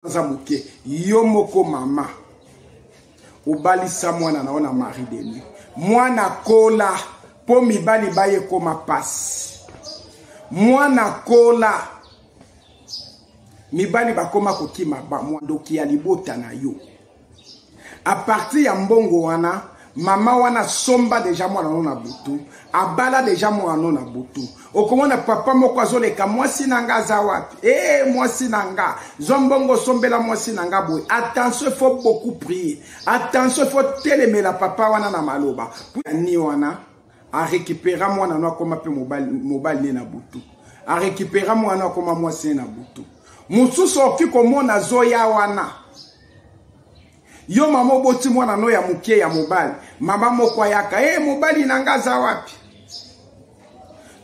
aza moke yo moko mama obalisa mwana na yo na marie denis mwana kola mpo mibali baye ekoma mpasi mwana kola mibali bakoma kokima bandoki ya libota na yo a partir ya mbongo wana mama wana asomba deja mwana no na butu abala deja mwana no na butu okomona papa moko azoleka mwasi na nga aza wapi ee eh, mwasi na nga zwa mbongo osombela mwasi na nga boye attention ifo beaucoup prier attention ifo telemela papa wana na maloba ni wana arekipera mwana no akoma mpe mobali ne na butu arekipera mwana no akoma mwasi ne na butu mosusu okoki komona zoya wana yo mama oboti mwana no ya moke ya mobali mama moko ayaka e mobali na nga aza wapi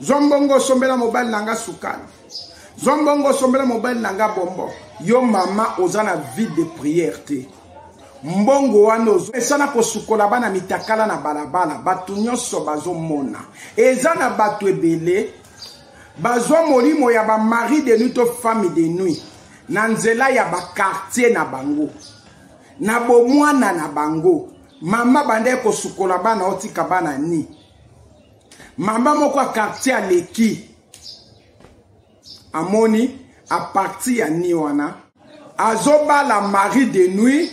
zwa mbongo osombela mobali na nga sukali zwa mbongo osombela mobali na nga bombo yo mama oza na vie de prière te mbongo wana ozomesana kosukola bana mitakala na balabala bato nyonso bazomona eza na bato ebele bazwa molimo ya ba mari de nuit to femme de nuit na nzela ya ba quartier na bango na bomwana na bango mama banda ekosukola bana otika bana ni mama moko ya quartier aleki amoni aparti ya ni wana azobala mari de nuit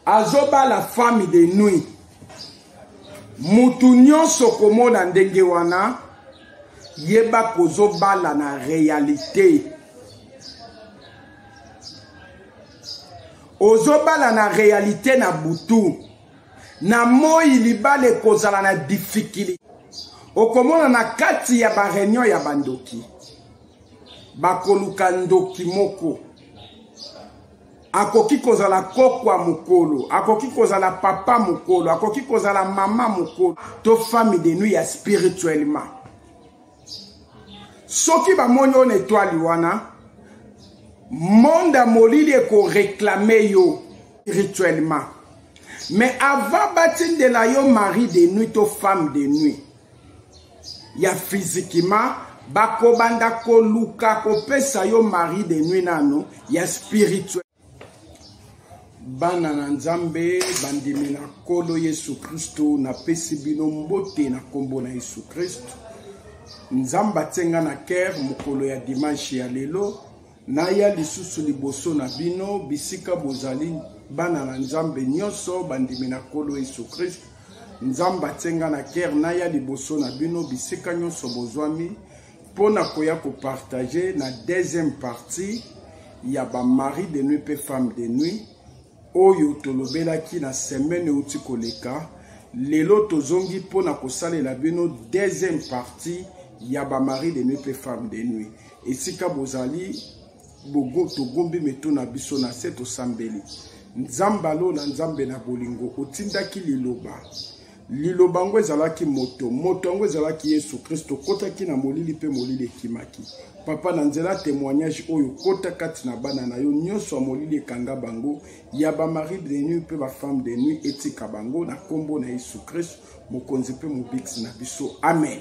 azobala femme de nuit mutu nyonso okomona ndenge wana yeba kozobala na realite ozobala na realite na butu na moi libala ekozala na difikilite okomona na kati ya bareunion ya bandoki bakoluka ndoki moko akoki kozala kokwa mokolo akoki kozala papa mokolo akoki kozala mama mokolo to fami de nuit ya spirituellement soki bamoni oyo na etwali wana monde ya molili ekoreklame yo spirituellement mais avant batindela yo mari de nuit to femme de nuit ya physiquement bakobanda koluka kopesa yo mari de nuit nano ya spirituel bana na nzambe bandimi na nkolo yesu kristo napesi bino mbote na nkombo na yesu kristo nzambe atie nga na kere mokolo ya dimanche ya lelo Naya lisusu liboso na bino bisika bozali bana na Nzambe nyonso bandimi na Nkolo Yesu Kristo. Nzambe atie nga na kere naya liboso na bino bisika nyonso bozwami mpo na koya kopartage na deuxième partie ya ba mari de nuit mpe femme de nuit oyo tolobelaki na semaine euti koleka lelo tozongi mpo na kosalela bino deuxième partie ya bamari de nuit mpe femme de nuit esika bozali togumbi mitu na biso na se tosambeli nzambe alola nzambe na bolingo otindaki liloba Liloba yango ezalaki moto, moto yango ezalaki Yesu Kristo, kotaki na molili mpe molili ekimaki. Papa, na nzela ya temoignage oyo, kota kati na bana na yo nyonso ya molili, ekanga bango ya ba mari de nuit mpe ba femme de nuit, etika bango na nkombo na Yesu Kristo, mokonzi mpe mobikisi na biso, amen.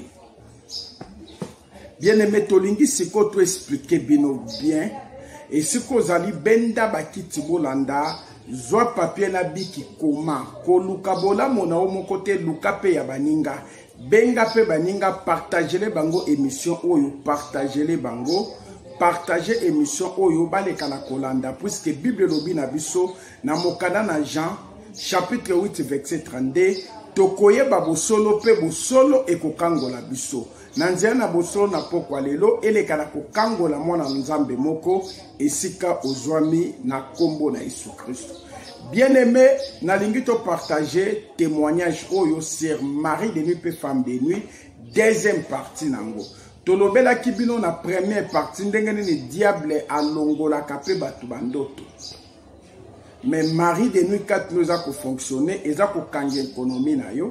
bien aime tolingi siko to explike bino bien esika ozali benda bakiti bolanda zwa papie na biki koma koluka bolamu na yo moko te luka mpe ya baninga benga mpe baninga partagele bango emission oyo partagele bango partage emission oyo baleka na kolanda puiske bible elobi na biso na mokanda na jean chapitre 8 verset 32 tokoyeba bosolo mpe bosolo ekokangola biso na nzela na bosolo na pokwa lelo eleka na kokangola mwana nzambe moko esika ozwami na nkombo na yesu kristo bien aime nalingi topartage témoignage oyo sur marie de nuit mpe femme de nuit deuxième partie na yango tolobelaki bino na première partie ndenge nini diable alongolaka mpe bato bandoto mais marie de nuit katino eza kofonctionne eza kokanga ekonomi na yo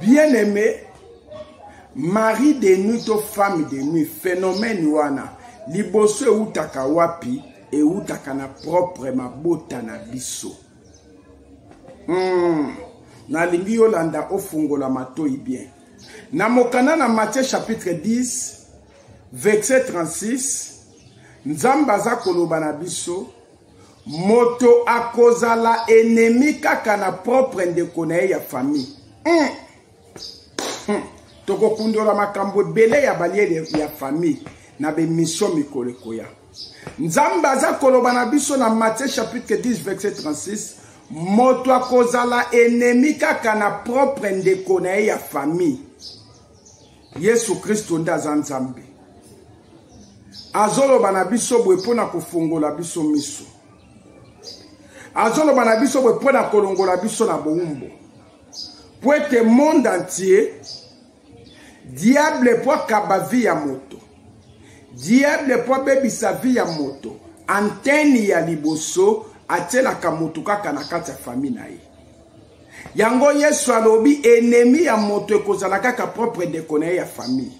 bien aimé mari de nuit to femme de nuit phénomène wana liboso ewutaka wapi ewutaka na propre mabota na biso mm. nalingi yolanda ofungola matoi bien na mokanda na matthieu chapitre 10 verset 36 nzambe aza koloba na biso moto akozala enemi kaka na propre ndeko na ye ya famille mm. mm. tokokundola makambo ebele ya balie ya famille na bemission mikolo ekoya nzambe aza koloba na biso na matthieu chapitre 10 verset 36 moto akozala enemi kaka na propre ndeko na ye ya famille yesu kristo nde aza nzambe azoloba na biso boye mpo na kofongola biso miso azoloba na biso boye mpo na kolongola biso na bowumbo mpo ete monde entier diable mpo akaba vi ya moto diable mpo abebisa vi ya moto antene ya liboso atielaka moto kaka na kati ya fami na ye yango yesu alobi enemi ya moto ekozala kaka propre ndeko na ye ya famille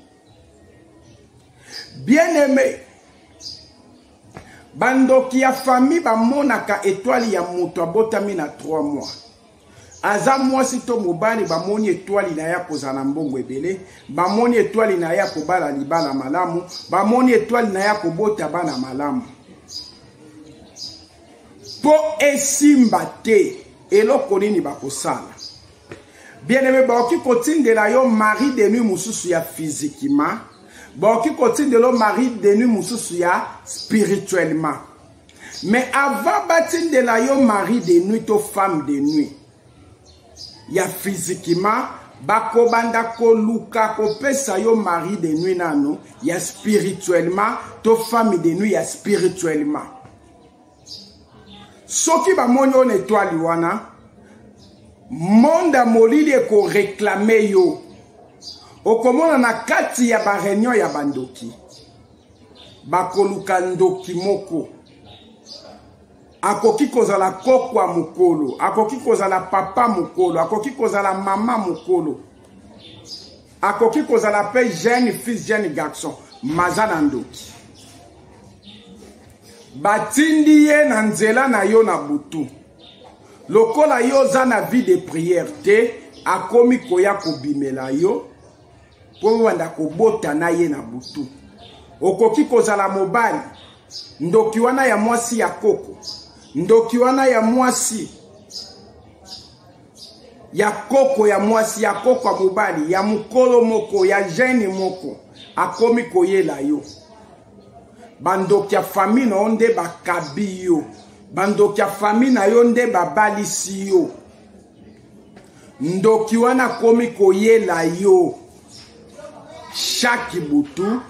bien aime bandoki ya famille bamonaka etwali ya moto abotami na 3 mois aza mwasi to mobali bamoni etwali na ye akozala na mbongo ebele bamoni etwali na ye akobala libala malamu bamoni etwali na ye akobota bana malamu mpo esimba te eloko nini bakosala bien aime bakoki kotindela yo marie de nuit mosusu ya physiquement bakoki kotindela yo marie de nuit mosusu ya spirituellement mais avant batindela yo marie de nuit to femme de nuit ya physiquement bakobanda koluka kopesa yo marie de nuit nano ya spirituellement to femme de nuit ya spirituellement soki bamoni yo na etwali wana monde ya molili ekoreklame yo okomona na kati ya bareunion ya bandoki bakoluka ndoki moko akoki kozala kokwa mokolo akoki kozala papa mokolo akoki kozala mama mokolo akoki kozala mpe jeune fils jeune garçon maza na ndoki batindi ye na nzela na yo na butu lokola yo oza na vie de prière te akomi koya kobimela yo mpo obanda kobota na ye na butu okoki kozala mobali ndoki wana ya mwasi ya koko ndoki wana ya mwasi ya koko ya mwasi ya koko ya mobali ya mokolo moko ya gene moko akomi koyela yo bandoki ya fami na yo nde bakabi yo bandoki ya fami na yo nde babalisi yo ndoki wana akomi koyela yo shaki butu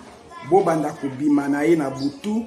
bobanda kobima na ye na butu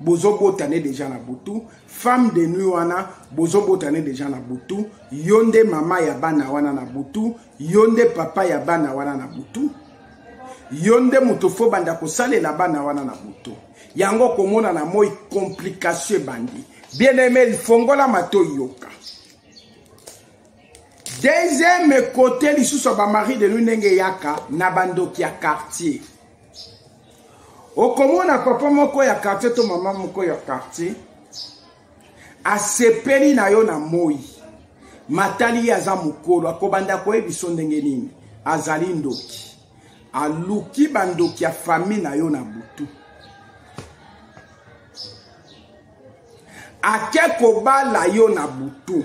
bozobotane deja na butu femme de nuit wana bozobotane deja na butu yo nde mama ya bana wana na butu yo nde papa ya bana wana na butu yo nde moto fo banda kosalela bana wana na butu yango komona na moi komplikatio ebandi bien aime lifongola mato yoka deuxième kote lisusu ya bamari de nuit ndenge eyaka na bandoki ya quartier okomona papa moko ya quartier to mama moko ya quartier asepeli na yo na moi matali ye aza mokolo akobanda koyebiso ndenge nini azali ndoki aluki bandoki ya fami na yo na butu ake kobala yo na butu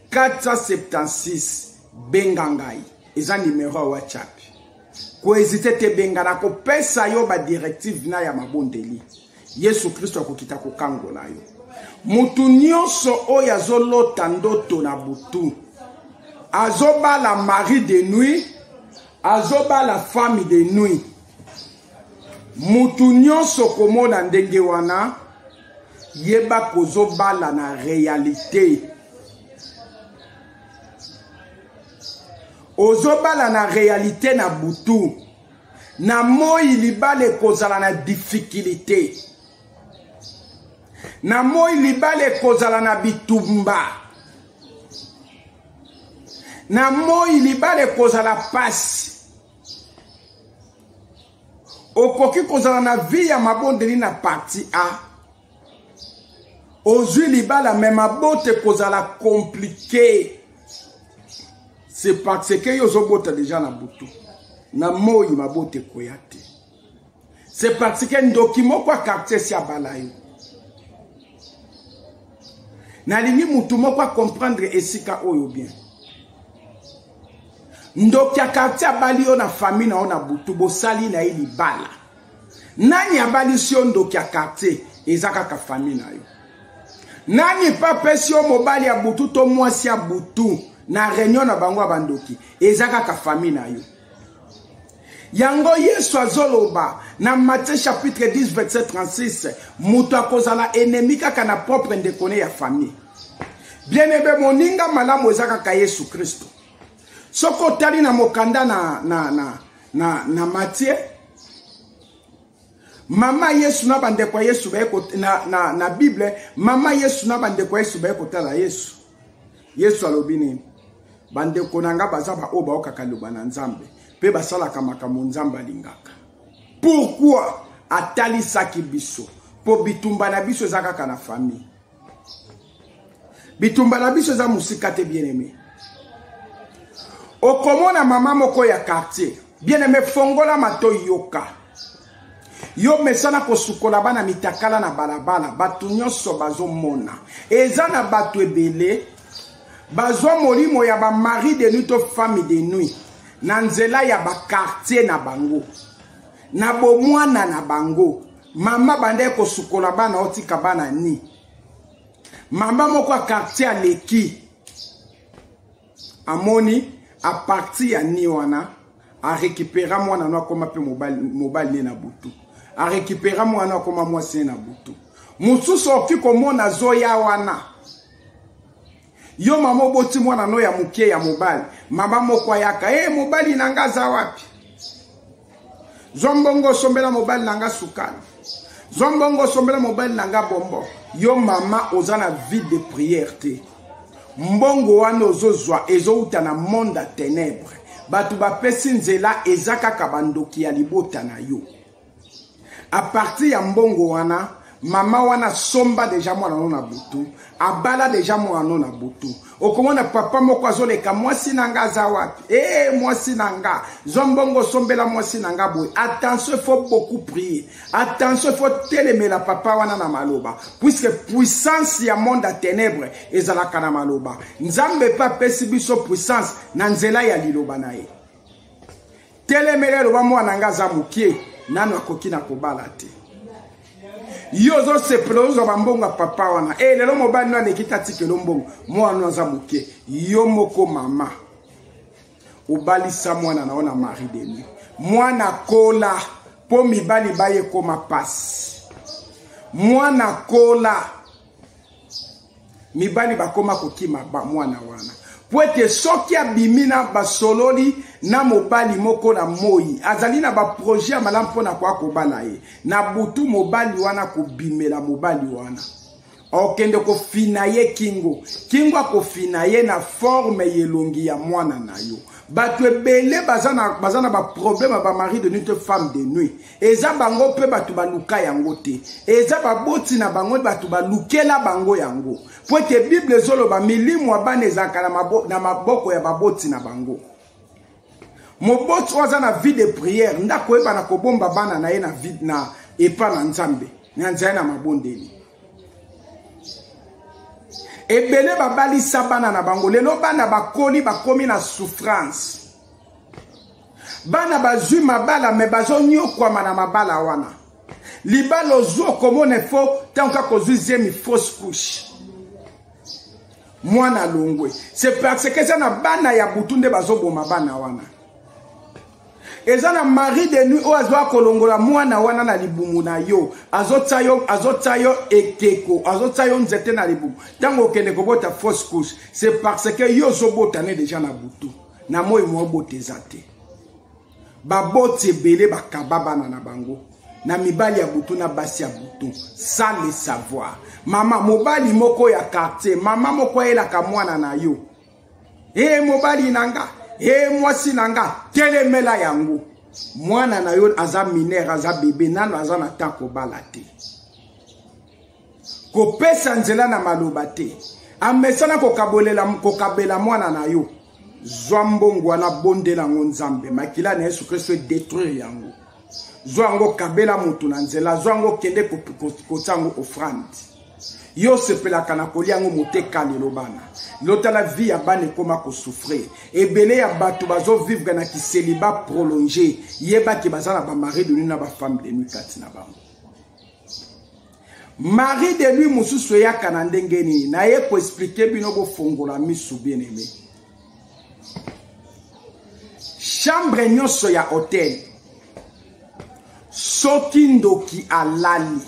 476 benga ngai eza numero ya whatsapp koezite te benga na kopesa yo badirective na ya mabondeli yesu kristo akokita kokangola yo moto nyonso oyo azolota ndoto na butu azobala mari de nuit azobala femme de nuit moto nyonso komona ndenge wana yeba kozobala na realite ozobala na realite na butu na moi libala ekozala na difikilite na moi libala ekozala na bitumba na moi libala ekozala mpasi okoki kozala na vi ya mabondeli na parti a ozwi libala me mabota ekozala komplike se parce que yo ozobota deja na butu na moi mabota ekoya te se parce que ndoki moko ya quartier si abala yo nalingi motu moko akomprendre esika oyo bien ndoki ya quartier abali yo na famille na yo na butu bosali na ye libala nani abalisi yo ndoki ya quartier eza kaka famille na yo nani mpe apesi yo mobali ya butu to mwasi ya butu na reunion na bango ya bandoki eza kaka famille na yo yango yesu azoloba na matthieu chapitre 10 verset 36 moto akozala enemi kaka na propre ndeko ne ya famille bien ebe moninga malamu eza kaka yesu kristo soki otali na mokanda na, na, na, na, na matthieu mama yesu na bandeko ya yesu baye na, na, na bible mama yesu na bandeko ya yesu baye kotala yesu yesu alobi nini bandeko na ngai baza baoyo baokaka loba na nzambe mpe basalaka makambo nzambe alingaka pourkui atalisaki biso mpo bitumba na biso eza kaka na famille bitumba na biso eza mosika te bien aimé okomona mama moko ya quartier bien aimé fongola mato yoka yo mesana kosukola bana mitakala na balabala bato nyonso bazomona eza na bato ebele bazwa molimo ya bamari de nuit to fami de nuit na nzela ya bakartier na bango na bomwana na bango mama banda ye kosukola bana otika bana ni mama moko ya quartier aleki amoni apartir ya ni wana arekipera mwana no akoma mpe mobali ne na butu arekipera mwana no akoma mwasi ne na butu mosusu okoki komona azoya wana Yo mama oboti mwana no ya mukie ya mobali. Mama moko ayaka, "Eh mobali na nga za wapi?" Zwa mbongo sombela mobali na nga sukali. Zwa mbongo sombela mobali na nga bombo. Yo mama oza na vie de prière te. Mbongo wana ozozwa ezouta na monde ya ténèbres. Bato bapesi nzela eza kaka bandoki ya libota na yo. a partir ya mbongo wana mama wana asomba deja mwana no na butu abala deja mwana no na butu okomona papa moko azoleka mwasi na nga aza wapi ee eh, mwasi na nga zwa mbongo osombela mwasi na nga boye attention faut beaucoup prier attention faut telemela papa wana na maloba puisque puissance ya monde ya ténèbre ezalaka na maloba nzambe mpe apesi biso puissance na nzela ya liloba na ye telemela eloba mwana nga aza mokie nanu akoki na kobala te yo ozosepela ozwa bambongo ya papa wana e lelo mobali no aleki tatikelo mbongo mwana aza moke yo moko mama obalisa mwana na yo na marie de nuit mwana kola mpo mibali baye ekoma mpasi mwana kola mibali bakoma kokima bamwana wana mpo ete soki abimi na basololi na mobali moko na moi azali na baproje ya malamu mpo na koya kobala ye na butu mobali wana kobimela mobali wana okende kofina ye kingo kingo akofina ye na forme ya elongi ya mwana na yo bato ebele baza na baproblème ya bamari de nuit to femme de nuit eza bango mpe bato baluka yango te eza baboti na bango bato balukela bango yango mpo ete bible ezoloba milimu ya bana ezalaka na maboko ya baboti na bango moboti oyo aza na vie de prière nde akoyeba na kobomba bana na ye na, na epa na nzambe na nzela na mabondeli ebele babalisa bana na bango lelo bana bakoli bakomi na souffrance bana bazwi mabala me bazonyokwama na mabala wana libala ozwi okomona efo ntango kaka ozwi zemi fausse couche mwana alongwe se parce que eza na bana ya butu nde bazoboma bana wana eza na mari de nuit oyo azwaka kolongola mwana wana na libumu na yo azotya yo azotya yo ekeko azotya yo nzete na libumu ntango okende kobota fausse couche se parce que yo ozobota ne deja na butu na moi mwa bote eza te baboti ebele bakaba bana na bango na mibali ya butu na basi ya butu sans le savoir mama mobali moko ya quartier mama moko ayelaka mwana na yo e hey, mobali na nga e hey, mwasi na nga telemela yango mwana na yo aza minere aza bebe nano aza na ntango kobala te kopesa nzela na maloba te amesana kokabolela kokabela mwana na yo zwa mbongo wana bondela yango nzambe makila na yesu kristo edetruire yango zwa yango kabela moto na nzela zwa yango kende kotya yango ofrande yo osepelaka na kolia yango moteka lelo bana lotala vi ya bana ekóma kosouffrir ebele ya bato bazovivre na kiseliba prolonge yebaki baza na bamari de nuit na bafemme de nuit kati na bango Marie de lui mususu eyaka na ndenge nini na ye ko expliquer bino bo fongola misu bien aimé. Chambre nyonso ya hotel soki ndoki alali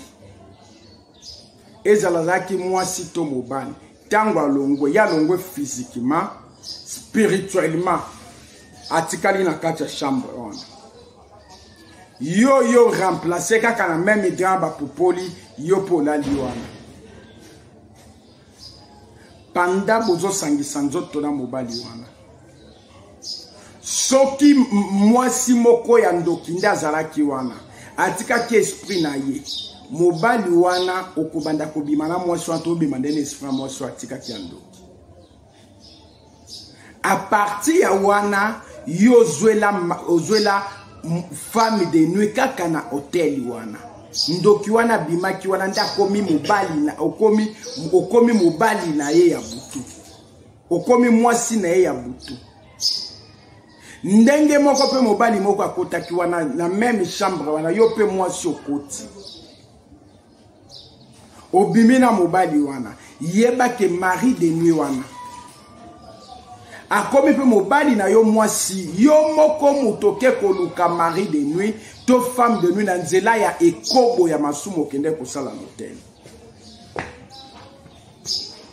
ezala azalaki mwasi to mobali ntango alongwe ye alongwe physiquement spirituellement atikali na kati ya chambre wana yo yo remplace kaka na meme grand bapupoli yo mpo olali wana panda bozosangisa nzoto na mobali wana soki mwasi moko ya ndoki nde azalaki wana atikaki esprit na ye mobali wana okobanda kobima na mwasi wana tobima nde na esprit ya mwasi oyo atikaki ya ndoki a partir ya wana yo ozwela ozwela femme de nuit kaka na hotel wana ndoki wana abimaki wana nde akomi mobali na okomi okomi mobali na ye ya butu okomi mwasi na ye ya butu ndenge moko mpe mobali moko akotaki wana na meme chambre wana yo mpe mwasi okoti obimi na mobali wana yeba ke mari de nuit wana akomi mpe mobali na yo mwasi yo moko moto oke koluka mari de nuit to femme de nuit na nzela ya ekobo ya masumu okende kosala motele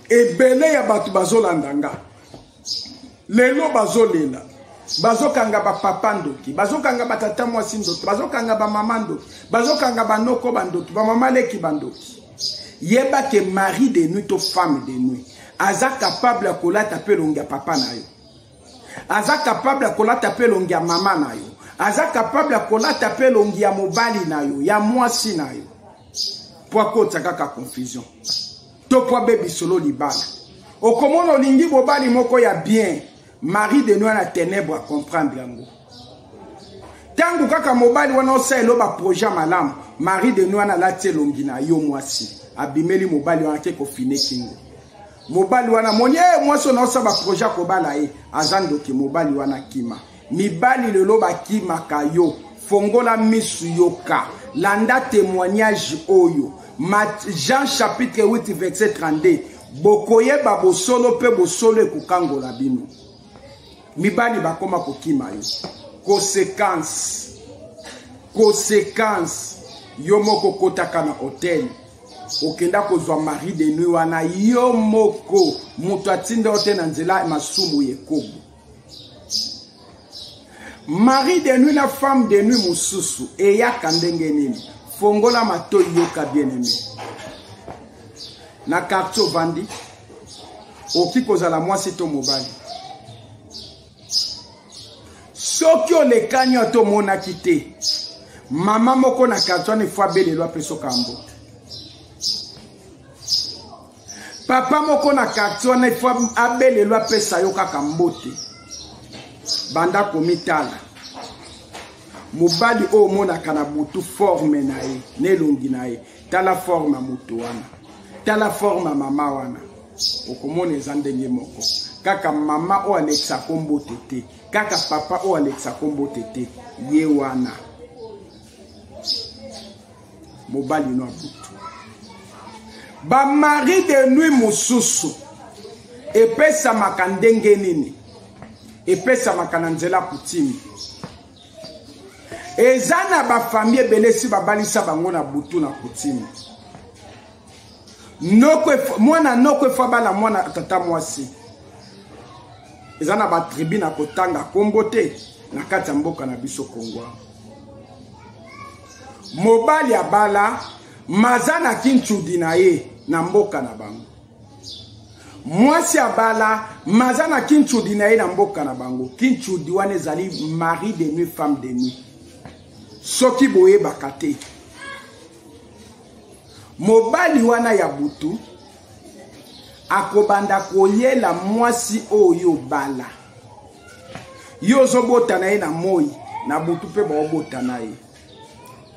ebele ya bato bazolanda nga lelo bazolela bazokanga bapapa ndoki bazokanga batata mwasi ndoki bazokanga bamama ndoki bazokanga banoko bandoki bamama leki bandoki yeba ke mari de nuit to femme de nuit aza kapable ya kolata mpe elongi ya papa na yo aza kapable ya kolata mpe elongi ya mama na yo aza kapable ya kolata mpe elongi ya mobali na yo ya mwasi na yo mpo akotisa kaka confusion to mpo abebi solo libala okomona olingi bobali moko ya bien marie de noi na tenebre acomprendre yango ntango kaka mobali wana osalelo baproje ya malamu marie de noi wana alati elongi na yo mwasi abimeli mobali wana te kofine kingo mobali wana moni e eh, mwasi oyo naosala baproje akobala ye aza ndoki mobali wana kima mibali lelo bakimaka yo fongola misu yoka landa témoignage oyo Mat jean chapitre 8 verset 32 bokoyeba bosolo mpe bosolo ekokangola bino mibali bakoma kokima yo conséquence conséquence yo moko okotaka na hotel okenda kozwa mari de nuit wana yo moko moto atinda yo te na nzela masumu ya ekobo mari de nuit na femme de nuit mosusu eyaka ndenge nini fongola matoi yoka bien aime na quartier ovandi okoki kozala mwasi to mobali soki olekani yo to omonaki te mama moko na quartier wana efo abelelo apeso kambo papa moko na quartier wana ifo abelelo apesa yo kaka mbote banda komitala mobali oyo omonaka na butu forme na ye na elongi na ye tala forme ya moto wana tala forme ya mama wana okomona eza ndenge moko kaka mama oyo alekisa kombo te te kaka papa oyo alekisa kombo te te ye wana mobali no abutu bamari de nuit mosusu epesamaka ndenge nini epesamaka na nzela kutimi eza na bafamille ebele esi babalisa bango na butu na kutimi mwana noko efa bala mwana tata mwasi eza na batribu na kotanga nkombo te na kati ya mboka na biso kongwa mobali abala maza na kinchudi na ye na mboka na bango mwasi abala maza na kinchudi na ye na mboka na bango kinchudi wana ezali mari de nuit femme de nuit soki boyebaka te mobali wana ya butu akobanda koyela mwasi oyo bala yo ozobota na ye na moi na butu mpe baobota na ye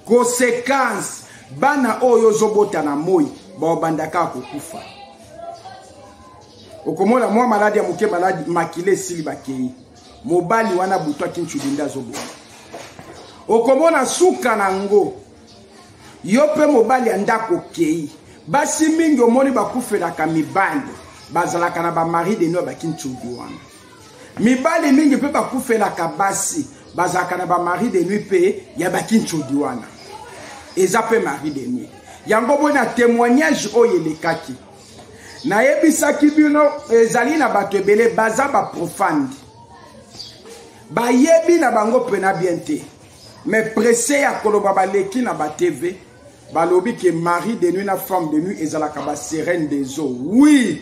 konsekanse bana oyo ozobota na moi baobanda kaka kokufa okomona mwa maladi ya moke maladi makila esili bakei mobali wana butu akincubi nde azobota okomona suka na yango yo mpe mobali ya ndako okei basi mingi omoni bakufelaka mibali bazalaka na bamari de noi bakincubi wana mibali mingi mpe bakufelaka basi bazalaka na bamari de nuit mpe ya bakinchodi wana eza mpe mari de nuit yango mpo na témoignage oyo elekaki nayebisaki bino ezali na bato ebele baza baprofane bayebi na bango mpena bien te me presse ya koloba baleki na batv balobi ke mari de nuit na femme de nuit ezalaka baserene des eaux oui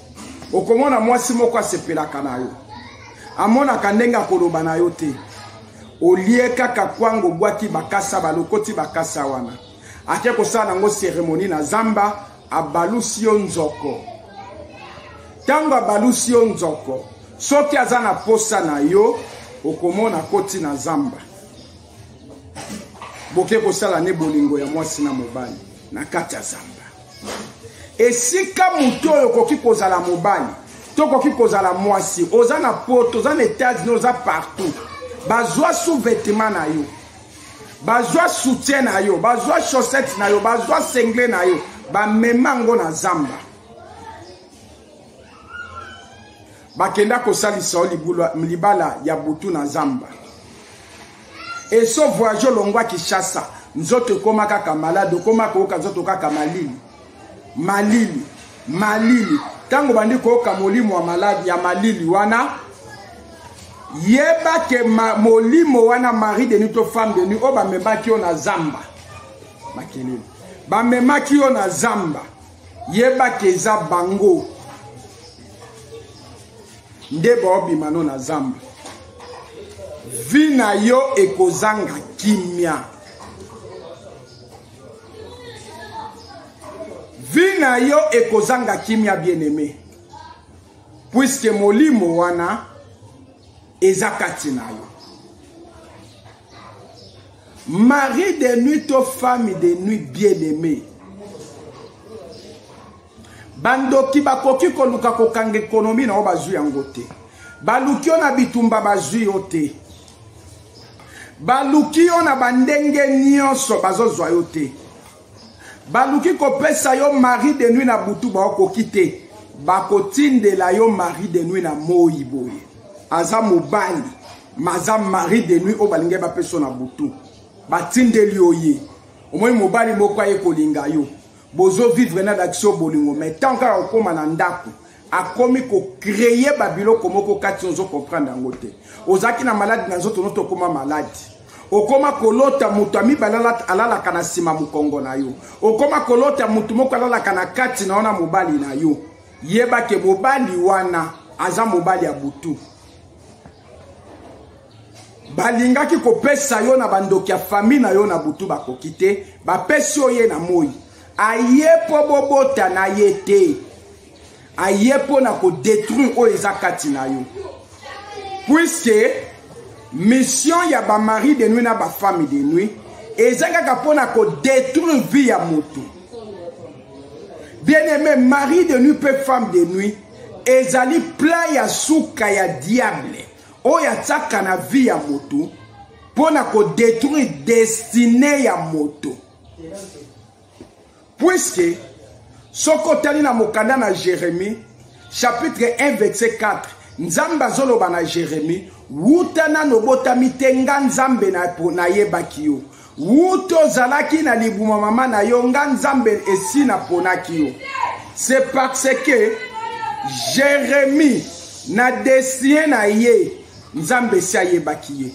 okomona mwasi moko asepelaka na yo amonaka ndenge akoloba na yo te olie kaka kwango obwaki bakasa balokoti bakasa wana ake kosala nango seremoni na zamba abalusi yo nzoko ntango abalusi yo nzoko soki aza na posa na yo okomona koti na zamba boke kosala ne bolingo ya mwasi na mobali na kati ya zamba esika moto oyo okoki kozala mobali to okoki kozala mwasi oza na poto oza na états-unis oza partout bazwa sous-vêtement na yo bazwa soutien na yo bazwa chaussette na yo bazwa sengle na yo bamema yango na zamba bakenda kosalisa yo libala ya butu na zamba eso voyage olongwa kinshasa nzoto ekoma kaka malade okoma koyoka nzoto kaka malili malili malili ntango bandi koyoka molimo ya maladi ya malili wana yeba ke ma, molimo wana marie deni to femme deni oyo bamemaki yo na zamba makelele bamemaki yo na zamba yeba ke eza bango nde baobima no na zamba vi na yo ekozanga kimia vi na yo ekozanga kimia bien aime puiske molimo wana eza kati na yo mari de nuit to femme de nuit bien aimé bandoki bakoki koluka kokanga ekonomi na yo bazwi yango te baluki yo na bitumba bazwi yo te baluki yo na bandenge nyonso bazozwa yo te baluki kopesa yo mari de nuit na butu baokoki te bakotindela yo mari de nuit na moi boye aza mobali maza marie de nuit oyo balingai bapeso na butu batindeli yo ye omoni mobali moko aye kolinga yo bozo vivre na dakisio bolingo mai ntango kaka kokóma na ndako akomi kocreye babiloko moko kati ozo comprendre yango te ozalaki na maladi na nzoto noto okóma maladi okoma kolota moto ya mibale alalaka na nsima mokongo na yo okoma kolota moto moko alalaka na kati na yo na mobali na yo yeba ke mobali wana aza mobali ya butu balingaki kopesa yo na bandoki ya fami na yo na butu bakoki te bapesi yo ye na moi aye mpo bobota na ye te aye mpo na kodetruire oyo eza kati na yo puiske mission ya bamari de nuit na bafami de nuit eza kaka mpo na kodetruire vie ya motu bien aime mari de nuit mpe femme de nuit ezali plan ya suka ya diable oyo atiaka na vie ya moto mpo na kodetruire destine ya moto puiske soki otali na mokanda na jeremie chapitre 1 verset 4 nzambe azoloba na jeremie wuta nano obotami te nga nzambe nayebaki yo wuto ozalaki na libuma mama na yo nga nzambe esi naponaki yo se parce que jérémie na destin na ye nzambe esi ayebaki ye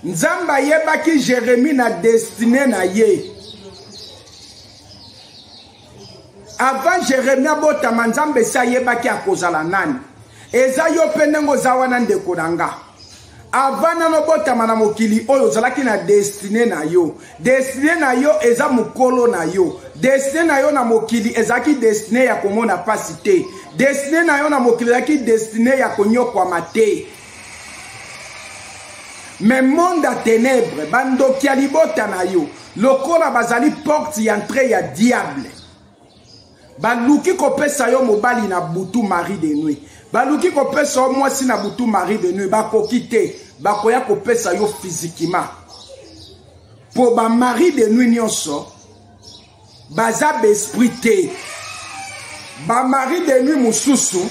nzambe ayebaki jérémie na destine na ye avant jeremie abotama nzambe esi ayebaki akozala nani eza yo mpe ndenge oza wana ndeko na nga avant nano obotama na mokili oyo ozalaki na destine na yo destine na yo eza mokolo na yo destine na yo na mokili ezalaki destine ya komona mpasi te destine na yo na mokili ezalaki destine ya konyokwama te me monde ya tenebre bandoki ya libota na yo lokola bazali porte ya entre ya diable baluki kopesa yo mobali na butu marie de nuit baluki kopesa yo mwasi na butu marie de nuit bakoki te bakoya kopesa yo fizikima mpo bamarie de nuit nyonso baza baesprit te bamarie de nuit mosusu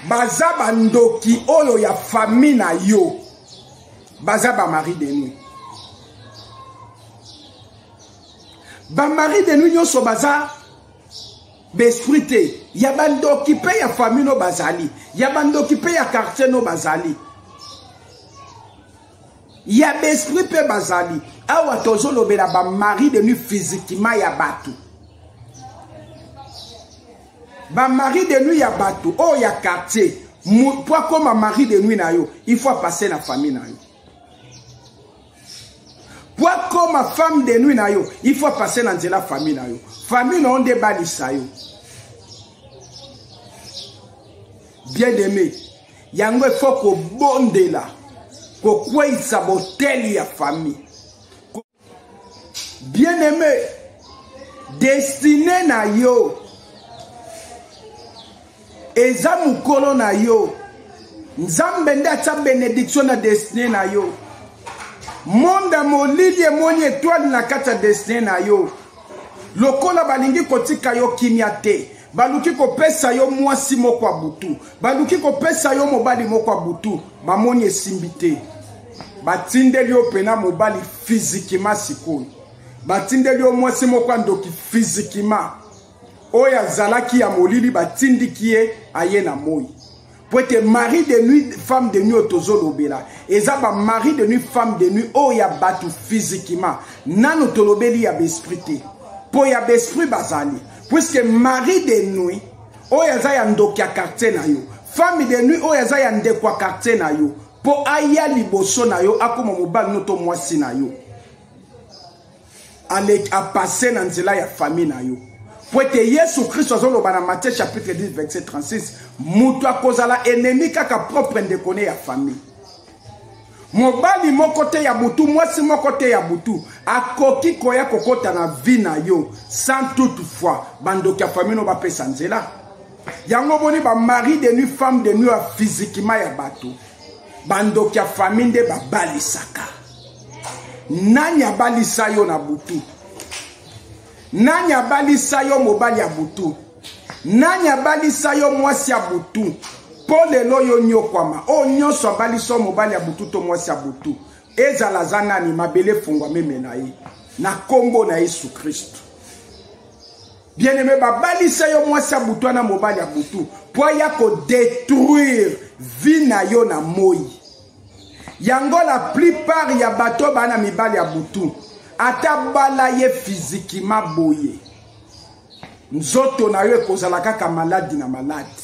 baza bandoki oyo ya fami na yo baza ba marie de nuit ba marie de nuit nyonso baza baesprit te ya bandoki mpe ya famille no bazali ya bandoki mpe ya quartier no bazali ya baesprit mpe bazali awa tozolobela bamari de nuit physiquement ya bato ba mari de nuit ya bato oyo ya quartier mpo akoma mari de nuit na yo il faut apasse na famille na yo mpo akoma femme de nuit na yo il faut apasse na nzela famille na yo famille na yo nde ebalisa yo bien aimé yango il faut kobondela kokweisa boteli ya famille bien aimé destine na yo eza mokolo na yo nzambe nde atya benediction na destine na yo monde ya molili emoni etoile na kati ya destine na yo lokola balingi kotika yo kimia te baluki kopesa yo mwasi moko ya butu baluki kopesa yo mobali moko ya butu bamoni esimbi te batindeli yo mpena mobali fizikima sikoyo batindeli yo mwasi moko ya ndoki fizikima oyo azalaki ya molili batindiki ye aye na moi mpo ete mari de nuit femme de nuit oyo tozolobela eza bamari de nuit femme de nuit oyo ya bato physiquement nano tolobeli ya baesprit te mpo ya baesprit bazali puiske mari de nuit oyo aza ya ndoki ya quartier na yo femme de nuit oyo aza ya ndeko ya quartier na yo mpo aya liboso na yo akoma mobali no to mwasi na yo apase na nzela ya famille na yo mpo ete yesu kristo azoloba na matthieu chapitre 10 verset 36 moto akozala enemi kaka propre ndeko ne ya famille mobali moko te ya butu mwasi moko te ya butu akoki koya kokɔta na vi na yo sans toute fois bandoki ya famille no bapesa nzela yango boni bamari de nuit femme de nuit ya physiquement ya bato bandoki ya famille nde babalisaka nani abalisa yo na butu nani abalisa yo mobali ya butu nani abalisa yo mwasi ya butu mpo lelo yo nyokwama oyo oh, nyonso abalisa yo mobali ya butu to mwasi ya butu ezala aza nani mabele efungwa meme na ye na nkombo na yesu kristo bien-aime babalisa yo mwasi ya butu wana mobali ya butu mpo aya kodetruire vi na yo na moi yango la plupart ya bato baa na mibali ya butu ata bala ye fizikima boye nzoto na yo ekozala kaka maladi na maladi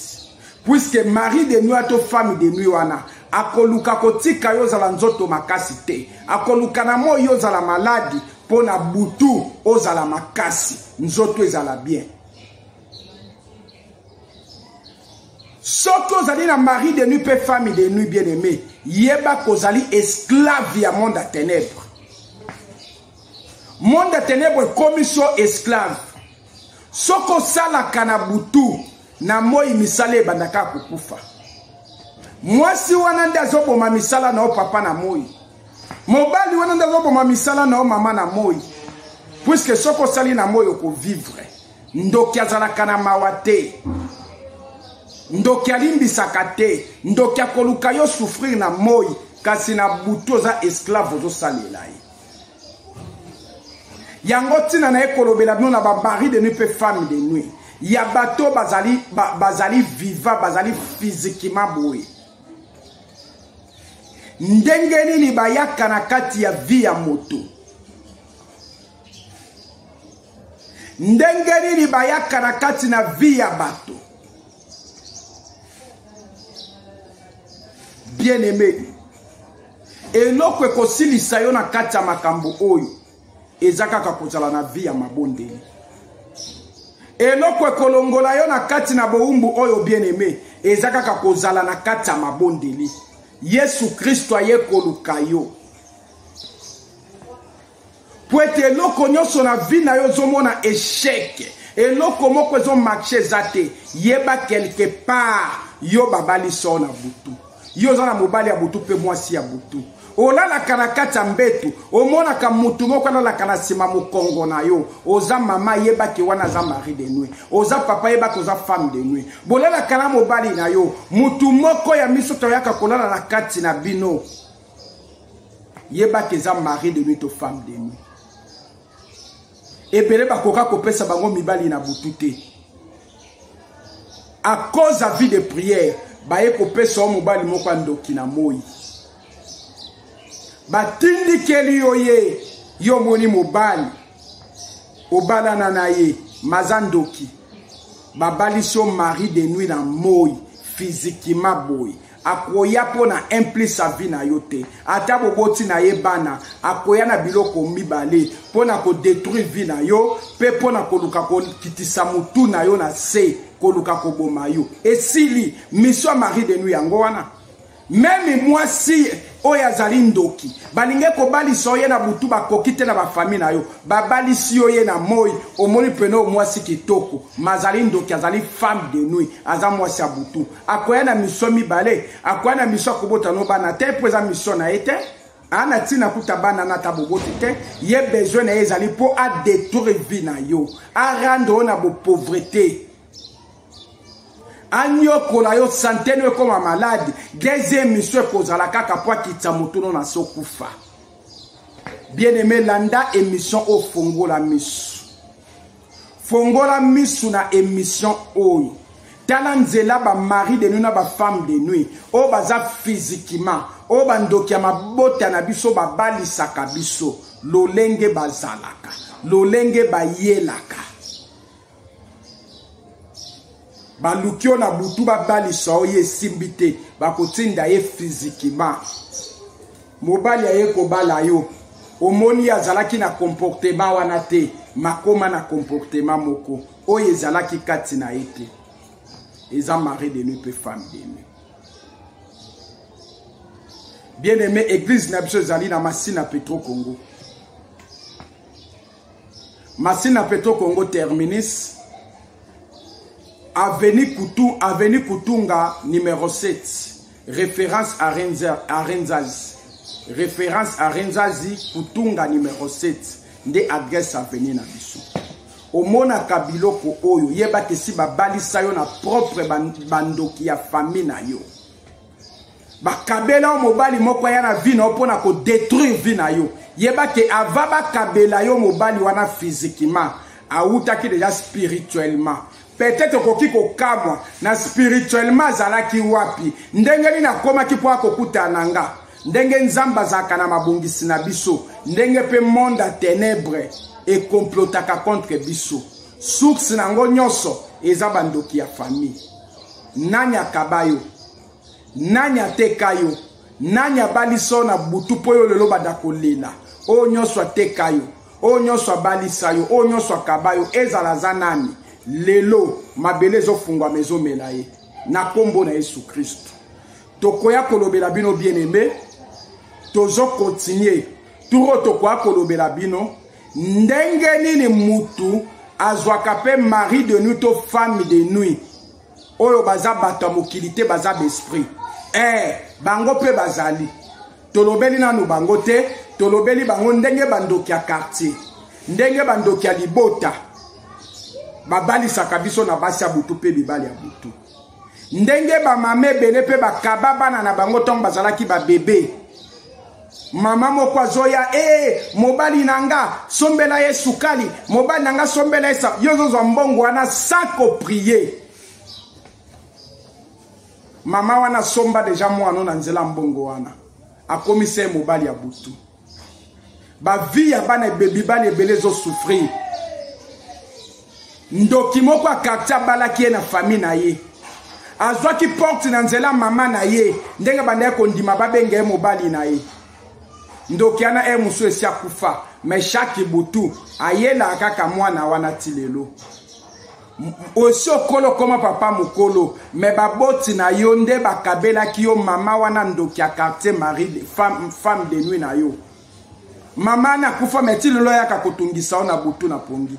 puiske mari de nuit to femme de nuit wana akoluka kotika yo ozala nzoto makasi te akoluka na moi yo ozala maladi mpo na butu ozala makasi nzoto ezala bien soki ozali na mari de nuit mpe femme de nuit bien aimé yeba kozali esclave ya monde ya ténèbre monde ya ténèbre ekomi so esclave soki osalaka na butu na moi misala ebandaka kokufa mwasi wana nde azoboma misala na yo papa na moi mobali wana nde azoboma misala na yo mama na moi puiske soki osali na moi okovivre ndoki azalaka na mawa te ndoki alimbisaka te ndoki akoluka yo souffrir na moi kasi na butu oza esclave ozosalela ye yango ntina na ye kolobela bino na bamari de nuit mpe femme de nuit ya bato bazali, ba, bazali viva bazali fizikima boye ndenge nini bayaka na kati ya vi ya moto ndenge nini bayaka na kati na vi ya bato bien aimé eloko ekosilisa yo na kati ya makambo oyo eza kaka kozala na vi ya mabondeli eloko ekolongola yo na kati na bowumbu oyo bien aimé eza kaka kozala na kati ya mabondeli yesu kristo aye koluka yo mpo ete eloko nyonso na vie na yo ozomona echec eloko moko ezomarche eza te yeba quelque part yo babali so na butu yo oza na mobali ya butu mpe mwasi ya butu olalaka na kati ya mbetu omonaka motu moko alalaka na nsima mokongo na yo oza mama yebaki wana aza mari de nui oza papa yebaki oza femme de nui bolalaka na mobali na yo motu moko ya miso toyaka kolala na kati na bino yeba ke eza mari de nuit to femme de nuit ebele bakoka kopesa bango mibali na butu te à cause ya vie de prière baye kopesa yo mobali moko ya ndoki na moi batindikeli yo ye yo omoni mobali obalana na ye maza ndoki babalisi yo mari de nuit na moi fizikima boye akoya mpo na implice avi na yo te ata boboti na ye bana akoya na biloko mibale mpo na kodetruire vi na yo mpe mpo na koluka kokitisa motu na yo na se koluka koboma yo esili miso ya marie de nuit yango wana meme mwasi oyo azali ndoki balingi kobalisa yo ye na butu bakoki te na bafamile na yo babalisi yo ye na moi omoni pene oyo mwasi kitoko mazali ndoki azali femme de nuit aza mwasi ya butu akoya na mission mibale akoya na mission akobota no bana te mpo eza mission na ye te ana ntina kuta bana na ata boboti te ye besoin na ye ezali mpo adetruire vie na yo arendre yo na bopauvreté anyokola yo sante no ekoma malade deuxième mission ekozala kaka mpo akitisa motu no na se okufa bien aimé landa émission ofongola miso fongola misu na emission oyo tala nzela ba mari de nuit na ba femme de nuit oyo baza physiquement oyo bandoki ya mabota na biso babalisaka biso lolenge bazalaka lolenge bayelaka baluki yo na butu babalisa yo ye esimbi te bakotinda ye fizikima mobali aye kobala yo omoni azalaki na comportement wana te makoma na comportement moko oyo ezalaki kati na ye te eza mari de nuit mpe femme de nuit bien aimé église na biso ezali na masina petro congo Masina Petro Congo Terminus, Avenue, Kutu, Avenue Kutunga, numéro 7, référence à, Renza, à Renzazi. Référence à Renzazi, Kutunga, numéro 7, nde adresse avenue na biso. omonaka biloko oyo yeba te si babalisa yo na propre bandoki ya famille na yo bakabela yo mobali moko aya na vie na yo mpo na kodetruire vie na yo yeba ke ava bakabela yo mobali wana physiquement awutaki deja spirituellement peut-être okoki kokamwa na spirituellement azalaki wapi ndenge nini akomaki mpo akokutana na nga ndenge nzambe azalaka na mabongisi na biso ndenge mpe monde ya tenebre ekomplotaka contre biso source na yango nyonso eza bandoki ya famille nani akaba yo nani ateka yo nani abalisa yo na butu mpo yo lelo banda kolela oyo nyonso ateka yo oyo nyonso abalisa yo oyo nyonso akaba yo ezala aza nani lelo mabele ezofungwama ezomela ye na nkombo na yesu kristo tokoya kolobela bino bien aime tozokontinue turo tokoya kolobela bino ndenge nini mutu azwaka mpe mari de nuit to femme de nuit oyo baza bato ya mokili te baza baesprit eh, bango mpe bazali tolobeli nanu bango te tolobeli bango ndenge bandoki ya quartier ndenge bandoki ya libota babalisaka biso na basi ya butu mpe mibali ya butu ndenge bamama ebele mpe bakaba bana na bango ntango bazalaki babebe mama moko azoya ee mobali na nga sombela ye sukali mobali na nga sombela ye sa yo ozozwa mbongo wana sans koprie mama wana asomba deja mwana na nzela mbongo wana akomisa ye mobali ya butu bavie ya bana ebebibali ebele ezosouffrir ndoki moko ya quartier abalaki ye na famille na ye azwaki porte na nzela mama na ye ndenge bandaki kondima babenga ye mobali na ye ndoki yana heure mosusu esi akufa me chaque butu ayelaka kaka mwana wana ti lelo osi okolo koma papa mokolo me baboti na yo nde bakabelaki yo mama wana ndoki ya quartier marie femme, femme de nuit na yo mama na kufa me ti lelo ayaka kotungisa yo na butu na pongi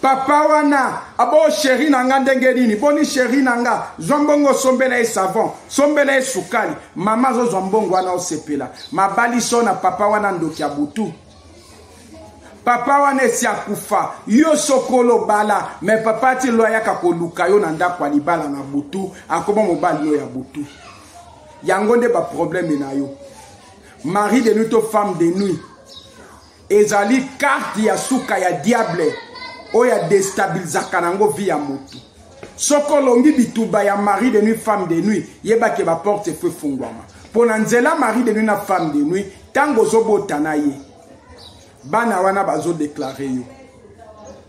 papa wana abo sheri na nga ndenge nini boni sheri na nga zwa mbongo osombela ye savon sombela ye sukali mama azozwa mbongo wana osepela mabaliso na papa wana ndoki ya butu papa wana esi akufa yo soki olobala me papa ati lo ayaka koluka yo na ndako ya libala na butu akoma mobali yo ya butu yango nde baprobleme na yo mari de nuit to femme de nuit ezali karte ya suka ya diable oyo adestabilizaka nango vi ya motu soki olongi bituba ya mari de nuit femme de nuit yeba ke baporte efo efungwama mpo na nzela mari de nuit na femme de nuit ntango ozobota na ye bana wana bazodeklare yo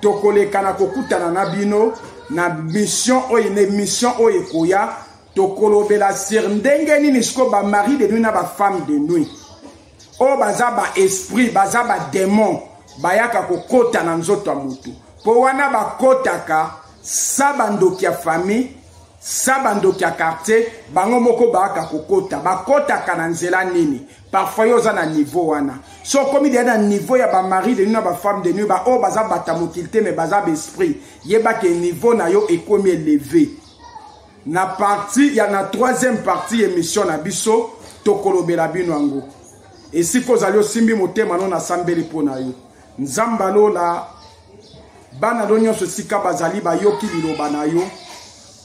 tokoleka na kokutana na bino na mission oyo na émission oyo ekoya tokolobela sur ndenge nini sikoyo bamari de nuit na bafemme de nuit oyo baza baesprit baza bademon bayaka kokota na nzoto ya motu mpo wana bakotaka sa bandoki ya famille sa bandoki ya quartier bango moko bayaka kokota bakotaka na nzela nini parfois yo oza na niveau wana so okomi deya na niveau ya bamari de nu na bafemme de nu baoyo baza bata mokili te me baza baesprit yeba ke niveau na yo ekomi eleve na parti ya na troisième partie ya émission na biso tokolobela bino yango esika ozali osimbi motema no nasambeli mpo na yo nzambe alola bana lo nyonso esika bazali bayoki liloba na yo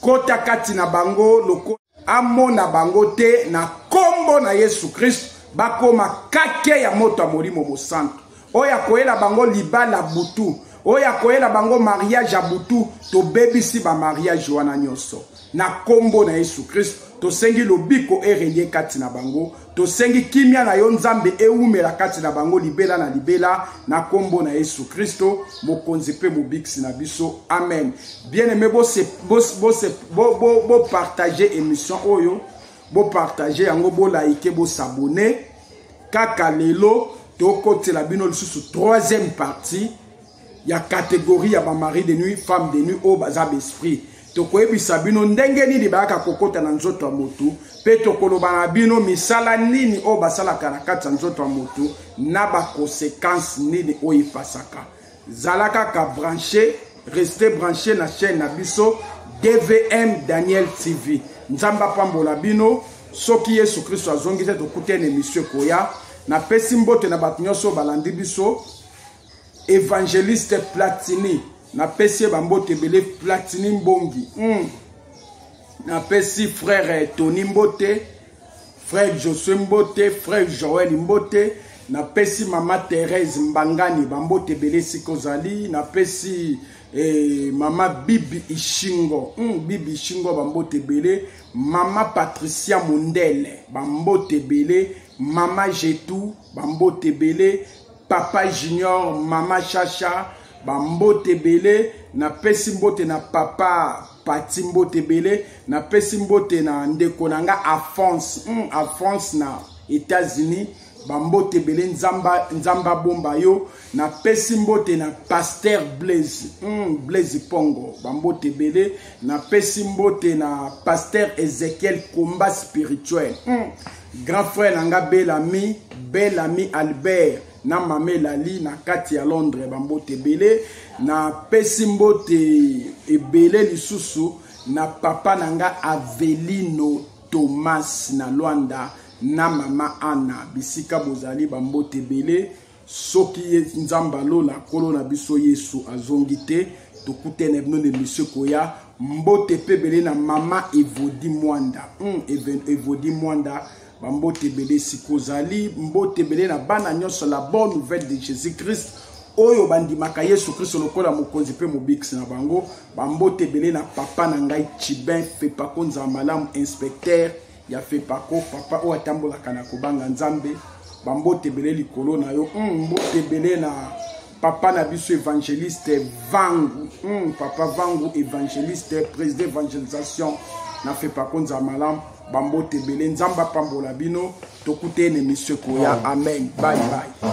kota kati na bango lokola amona bango te na nkombo na yesu kristo bakoma kake ya moto ya molimo mosantu oyo akoyela bango libala butu oyo akoyela bango mariage ya butu tobebisi bamariage wana nyonso na nkombo na yesu kristo tosengi lobiko erelie kati na bango tosengi kimia na yo nzambe ewumela kati na bango libela na libela na nkombo na yesu kristo mokonzi mpe mobikisi na biso amen bien aime bopartage bo, bo, bo émission oyo bopartage yango bolaike bosabone kaka lelo tokotela bino lisusu troisième partie ya catégorie ya ba mari de nuit femme de nuit oyo baza baesprit tokoyebisa bino ndenge nini bayaka kokota na nzoto ya motu mpe tokoloba na bino misala nini oyo basalaka na kati ya nzoto ya motu na bakonsekanse nini oyo epasaka zala kaka branche reste branche na chaîne na biso dvm daniel tv nzambe apambola bino soki yesu kristo azongi te tokutani emisio ekoya napesi mbote na bato nyonso oyo balandi biso evangeliste platini napesi ye bambote ebele platini mbongi mm. napesi frere tony mbote frere josue mbote frere joel mbote napesi mama therese mbangani bambote ebele esika ozali napesi eh, mama bibi ishingo mm, bibi ishingo bambote ebele mama patricia mondele bambote ebele mama jetu bambote ebele papa junior mama shasha bambote ebele napesi mbote na papa pati mbote ebele napesi mbote na ndeko na nga afrance mm, afrance na états-unis bambote ebele nzamba, nzamba bomba yo napesi mbote na paster blaise mm, blaise pongo bambote ebele napesi mbote na paster ezekiel combat spirituel mm. grand frère na nga bel ami bel ami albert na mama elali na kati ya londres bambote ebele napesi mbote ebele lisusu na papa na nga avelino thomas na lwanda na mama ana bisika bozali bambote ebele soki ye nzambe alola nkolo na biso yesu azongi te tokutana bino na emisio koya mbote mpe ebele na mama evodi mwanda mm, evodi mwanda bambote ebele esika ozali mbote ebele na bana nyonso la bonne nouvelle de jésus christ oyo bandimaka yesu kristo lokola mokonzi mpe mobikisi na bango bambote ebele na papa na ngai chibin fepakonza malamu inspecteur ya fepako papa oyo atambolaka na kobanga nzambe bambote ebele likolo na yo mm, mbote ebele na papa na biso évangéliste vangu mm, papa vangu évangéliste président évangélisation na fepako nza malamu bambote ebele nzambe apambola bino tokuta ye na emission ekoya amen bye bye